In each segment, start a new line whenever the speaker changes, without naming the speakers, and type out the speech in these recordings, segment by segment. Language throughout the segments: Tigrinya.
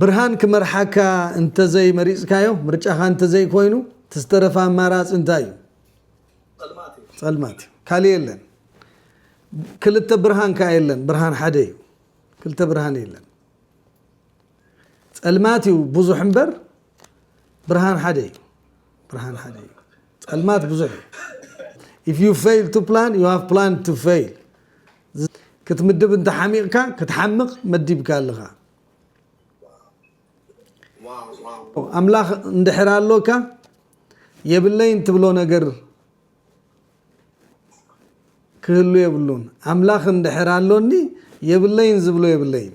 ብርሃን ክመርሓካ እንተዘይ መሪጽካዮ፣ ምርጫኻ እንተዘይ ኮይኑ፣ እቲ ዝተረፈ ኣማራጺ እንታይ እዩ? ጸልማት እዩ። ካልእ የለን። ክልተ ብርሃን ከኣ የለን፣ ብርሃን ሓደ እዩ። ክልተ ብርሃን የለን። ጸልማት እዩ ብዙሕ እምበር ብርሃን ሓደ እዩ። ብርሃን ሓደ እዩ። ጸልማት ብዙሕ እዩ። If you fail to plan, you have planned to fail። ክትምድብ እንተ ሓሚቕካ ክትሓምቕ መዲብካ ኣለኻ። ኣምላኽ እንድሕር ኣሎካ የብለይን ትብሎ ነገር ክህሉ የብሉን። ኣምላኽ እንድሕር ኣሎኒ የብለይን ዝብሎ የብለይን።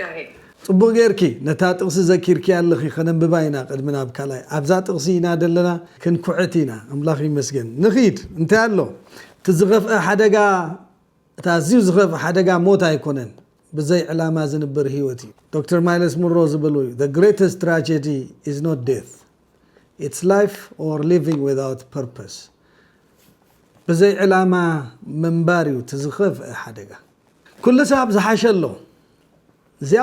ጋሂ። ጽቡቅ ጌርኪ ነታ ጥቅሲ ዘኪርክያ ኣለኺ ከነንብባ ኢና ቅድሚ ናብ ካልኣይ ኣብዛ ጥቅሲ ኢና ደለና ክንኩዕት ኢና ኣምላኽ ይመስገን ንኺድ እንታይ ኣሎ እቲ ዝኸፍኣ ሓደጋ እቲ ኣዝዩ ዝኸፍእ ሓደጋ ሞት ኣይኮነን ብዘይ ዕላማ ዝንበር ሂወት እዩ ዶክተር ማይለስ ሙሮ ዝበሎ እዩ the greatest tragedy is not death it's life or living without purpose ብዘይ ዕላማ ምንባር እዩ እቲ ዝኸፍእ ሓደጋ ኩሉ ሳብ ዝሓሸ ኣሎ እዚኣ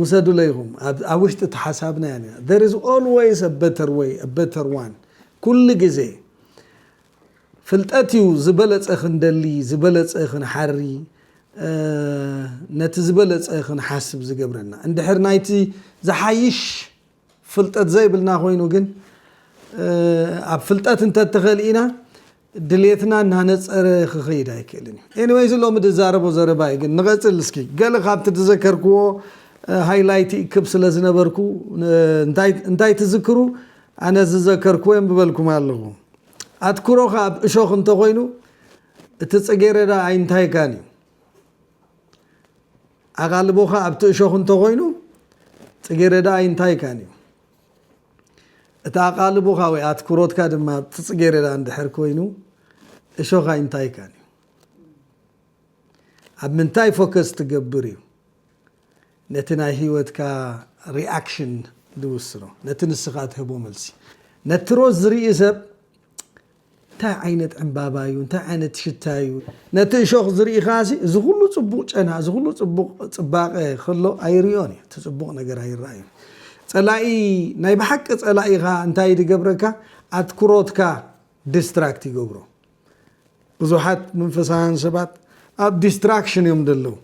ውሰዱለይ ኢኹም ኣብ ውሽጢ እቲ ሓሳብና እያ ኒራ there is always a better way a better one ኩሉ ግዜ ፍልጠት እዩ ዝበለጸ ክንደሊ ዝበለጸ ክንሓሪ ነቲ ዝበለጸ ክንሓስብ ዝገብረና እንድሕር ናይቲ ዝሓይሽ ፍልጠት ዘይብልና ኮይኑ ግን ኣብ ፍልጠት እንተተኸሊእና ድሌትና እናነፀረ ክኸይድ ኣይክእልን እዩ። ኤኒወይስ ሎሚ ድዛረቦ ዘረባ እዩ ግን ንቐፅል እስኪ ገለ ካብቲ ድዘከርክዎ ሃይላይት ይእክብ ስለ ዝነበርኩ እንታይ ትዝክሩ ኣነ ዝዘከርክዎ የንብበልኩም ኣለኹ። ኣትኩሮኻ ኣብ እሾኽ እንተኾይኑ እቲ ፅጌረዳ ኣይንታይካን እዩ። ኣቓልቦኻ ኣብቲ እሾኽ እንተ ኾይኑ፣ ጽጌረዳ ኣይንታይካን እዩ። እቲ ኣቓልቦኻ ወይ ኣትኩሮትካ ድማ ኣብቲ ጽጌረዳ እንድሕር ኮይኑ፣ እሾኽ ኣይንታይካን እዩ። ኣብ ምንታይ ፎከስ ትገብር እዩ ነቲ ናይ ህይወትካ ሪኣክሽን ዝውስኖ፣ ነቲ ንስኻ ትህቦ መልሲ። ነቲ ሮዝ ዝርኢ ሰብ እንታይ ዓይነት ዕምባባ እዩ? እንታይ ዓይነት ሽታ እዩ? ነቲ እሾኽ ዝርኢኻሲ እዚ ኹሉ ጽቡቕ ጨና፣ እዚ ኹሉ ጽቡቕ ጽባቐ ኸሎ ኣይርእዮን እዩ። እቲ ጽቡቕ ነገር ኣይረኣይን። ጸላኢ ናይ ብሓቂ ጸላኢ ኸኣ እንታይ ድገብረካ? ኣትኩሮትካ ዲስትራክት ይገብሮ። ብዙሓት መንፈሳውያን ሰባት ኣብ ዲስትራክሽን እዮም ደለዉ።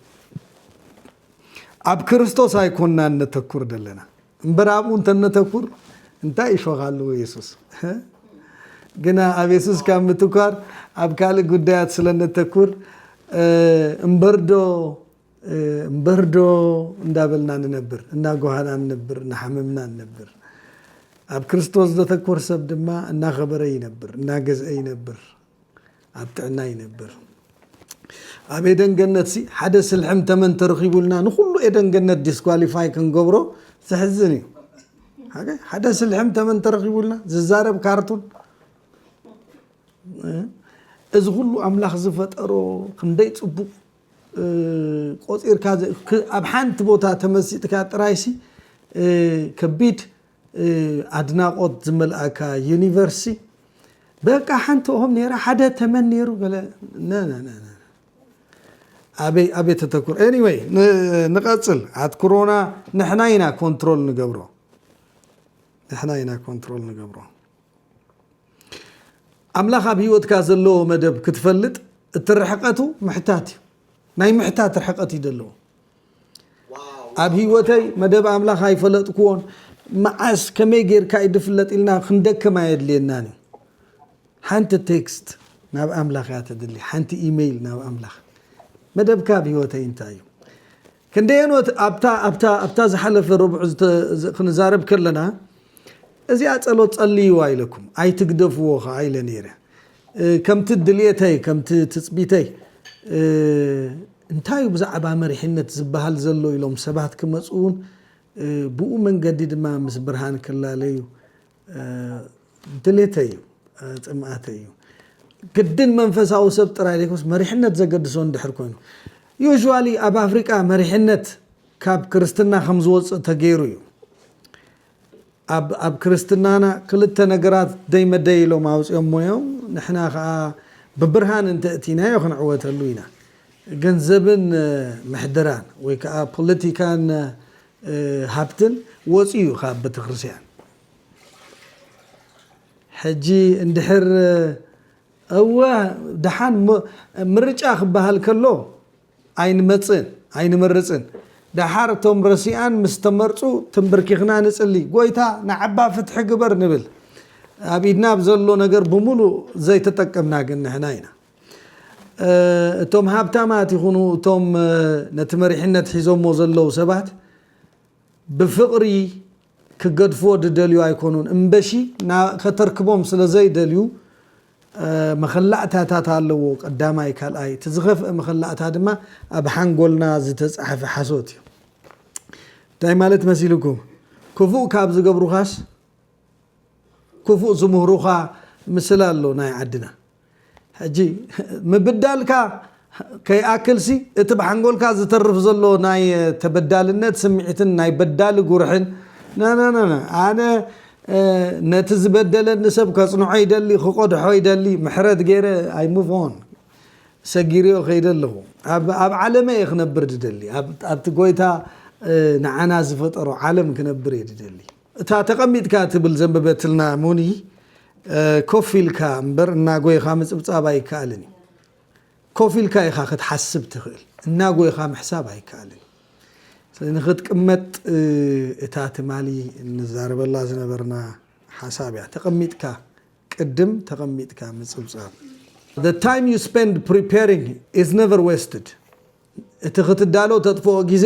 ኣብ ክርስቶስ ኣይኮናን ነተኩር ደለና። እምበር ኣብኡ እንተነተኩር እንታይ ይፈኻሉ የሱስ ግና ኣብ የሱስ ካብ ምትኳር ኣብ ካልእ ጉዳያት ስለ ነተኩር እምበርዶ እምበርዶ እንዳበልና ንነብር እናጓሃና ንነብር እናሓመምና ንነብር ኣብ ክርስቶስ ዘተኮር ሰብ ድማ እናኸበረ ይነብር እናገዝአ ይነብር ኣብ ጥዕና ይነብር። ኣብ ኤደን ገነት ሲ ሓደ ስልሕም ተመን ተረኺቡልና ንኹሉ ኤደን ገነት ዲስኳሊፋይ ክንገብሮ ዘሕዝን እዩ። ሓደ ስልሕም ተመን ተረኺቡልና ዝዛረብ ካርቱን እዚ ኩሉ ኣምላኽ ዝፈጠሮ ክንደይ ፅቡቕ ቆፂርካ ኣብ ሓንቲ ቦታ ተመሲጥካ ጥራይሲ ከቢድ ኣድናቆት ዝመልኣካ ዩኒቨርሲ በቃ ሓንቲ ኦም ነራ ሓደ ተመን ነሩ ገለ ኣበይ ኣበይ ተተኩር ኤኒወይ ንቀፅል ኣትኩሮና ንሕና ኢና ኮንትሮል ንገብሮ ንሕና ኢና ኮንትሮል ንገብሮ ኣምላኽ ኣብ ህይወትካ ዘለዎ መደብ ክትፈልጥ እቲ ርሕቀቱ ምሕታት እዩ ናይ ምሕታት ርሕቀት እዩ ዘለዎ ኣብ ህይወተይ መደብ ኣምላኽ ኣይፈለጥክዎን መዓስ ከመይ ጌርካ እዩ ድፍለጥ ኢልና ክንደክም ኣየድልየናን እዩ ሓንቲ ቴክስት ናብ ኣምላኽ እያ ተድሊ ሓንቲ ኢመይል ናብ ኣምላኽ መደብካ ኣብ ህይወተይ እንታይ እዩ ክንደየን ኣብታ ዝሓለፈ ረብዑ ክንዛረብ ከለና እዚኣ ፀሎት ፀልይዋ ኢለኩም ኣይትግደፍዎ ከዓ ኢለ ነይረ ከምቲ ድልየተይ ከምቲ ትጽቢተይ እንታዩ ብዛዕባ መሪሕነት ዝበሃል ዘሎ ኢሎም ሰባት ክመጽኡን ብኡ መንገዲ ድማ ምስ ብርሃን ክላለዩ ድሌተይ እዩ ጽምኣተይ እዩ። ግድን መንፈሳዊ ሰብ ጥራይ ዘይኮነስ መሪሕነት ዘገድሶ እንድሕር ኮይኑ Usually ኣብ ኣፍሪቃ መሪሕነት ካብ ክርስትና ከም ዝወጽእ ተገይሩ እዩ። ኣብ ኣብ ክርስትናና ክልተ ነገራት ደይ መደይ ኢሎም ኣውጺኦሞ እዮም ንሕና ከኣ ብብርሃን እንተ እቲናዮ ክንዕወተሉ ኢና ገንዘብን ምሕደራን ወይ ከኣ ፖለቲካን ሃብትን ወጽዩ እዩ ካብ ቤተክርስያን ሕጂ እንድሕር እወ ደሓን ምርጫ ክበሃል ከሎ ኣይንመጽእን ኣይንመርጽን ደሓር እቶም ረሲኣን ምስ ተመርጹ ተምበርኪኽና ንጽሊ ጎይታ ንዓባ ፍትሒ ግበር ንብል ኣብ ኢድና ብ ዘሎ ነገር ብምሉእ ዘይተጠቀምና ግን ንሕና ኢና እቶም ሃብታማት ይኹኑ እቶም ነቲ መሪሕነት ሒዞሞ ዘለዉ ሰባት ብፍቕሪ ክገድፍዎ ድደልዩ ኣይኮኑን እምበሺ ከተርክቦም ስለ ዘይደልዩ መኸላእታታት ኣለዎ ቀዳማይ ካልኣይ እቲ ዝኸፍእ መኸላእታ ድማ ኣብ ሓንጎልና ዝተጻሕፈ ሓሶት እዩ እንታይ ማለት መሲልኩም ክፉእ ካብ ዝገብሩኻስ ክፉእ ዝምህሩኻ ምስላ ኣሎ ናይ ዓድና ሕጂ ምብዳልካ ከይኣክልሲ እቲ ብሓንጎልካ ዝተርፍ ዘሎ ናይ ተበዳልነት ስምዒትን ናይ በዳሊ ጉርሕን ነነነነ ኣነ ነቲ ዝበደለኒ ሰብ ከጽንዖ ይደሊ ክቆድሖ ይደሊ ምሕረት ገይረ ኣይ ሙቭ ኦን ሰጊርዮ ከይደ ኣለኹ ኣብ ዓለመ እየ ክነብር ድደሊ ኣብቲ ጎይታ ንዓና ዝፈጠሮ ዓለም ክነብር እየ ድደሊ እታ ተቀሚጥካ ትብል ዘንበበትልና ሞኒ ኮፍ ኢልካ እምበር እናጎይኻ ምጽብጻብ ኣይከኣልን እዩ። ኮፍ ኢልካ ኢኻ ክትሓስብ ትኽእል እናጎይኻ ምሕሳብ ኣይከኣልን እዩ። ስለዚ ንኽትቅመጥ እታ ትማሊ እንዛረበላ ዝነበርና ሓሳብ እያ ተቀሚጥካ ቅድም ተቀሚጥካ ምጽብጻብ። The time you spend preparing is never wasted እቲ ክትዳሎ ተጥፍኦ ግዜ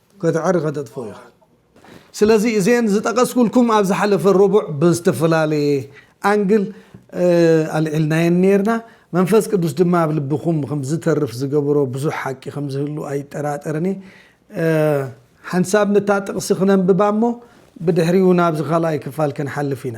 ከተዕሪ ከተጥፍኦ ኢኻ። ስለዚ እዘን ዝጠቐስኩልኩም ኣብ ዝሓለፈ ረቡዕ ብዝተፈላለየ ኣንግል ኣልዒልናየን ኔርና። መንፈስ ቅዱስ ድማ ኣብ ልብኹም ከም ዝተርፍ ዝገበሮ ብዙሕ ሓቂ ከም ዝህሉ ኣይጠራጠርን እየ። ሓንሳብ ነታ ጥቕሲ ክነንብባ እሞ ብድሕሪኡ ናብዚ ካልኣይ ክፋል ክንሓልፍ ኢና።